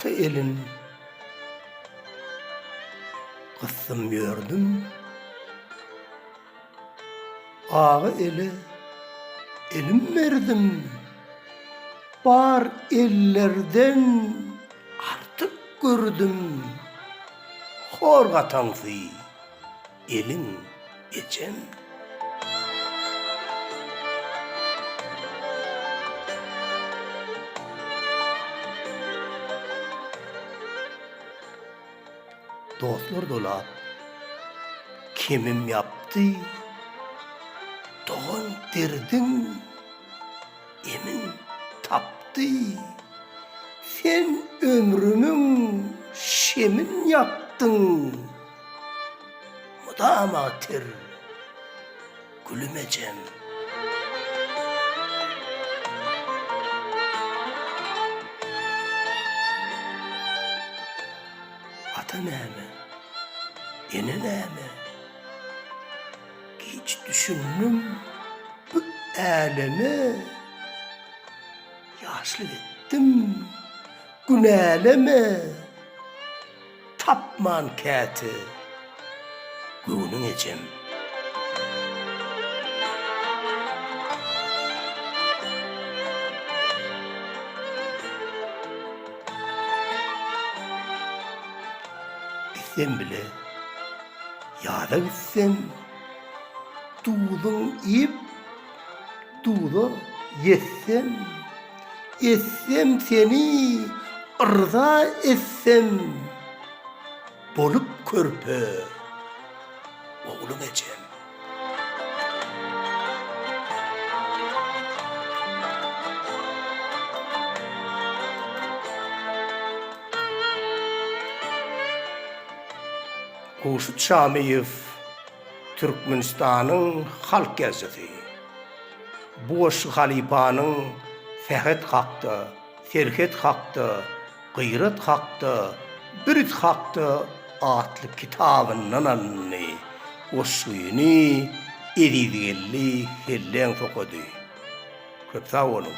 Ata elin gysdym ýördüm. Aga ele elim berdim, bar ellerden artyk gördüm, hor gataňsy eliň ejem. Dostlar dolap kemim ýapdy, Dogan derdiň emin tapdy. Sen ömrümiň şemin ýakdyň, mydama ter. Gülüm ejem. Ata näme? Ene näme? Giç düşündim bu äleme. Ýaşlyk etdim günäleme. Tapman käte göwnüň ejem. Sen bile ýaza gitseň, duzuň iýip, duza ýetseň. Etsem seni yrza etsem Bolup körpe oglum ejem. Hurşyt Şamyýew türkmenistanyň halk ýazyjysy. Bu goşgy halypanyň sähet hakda, serhet hakda, gyrat hakda, birt hakda atly kitabyndan alyndy. Goşgyny Ezizgeldi Selleňow okady. Köp sag boluň!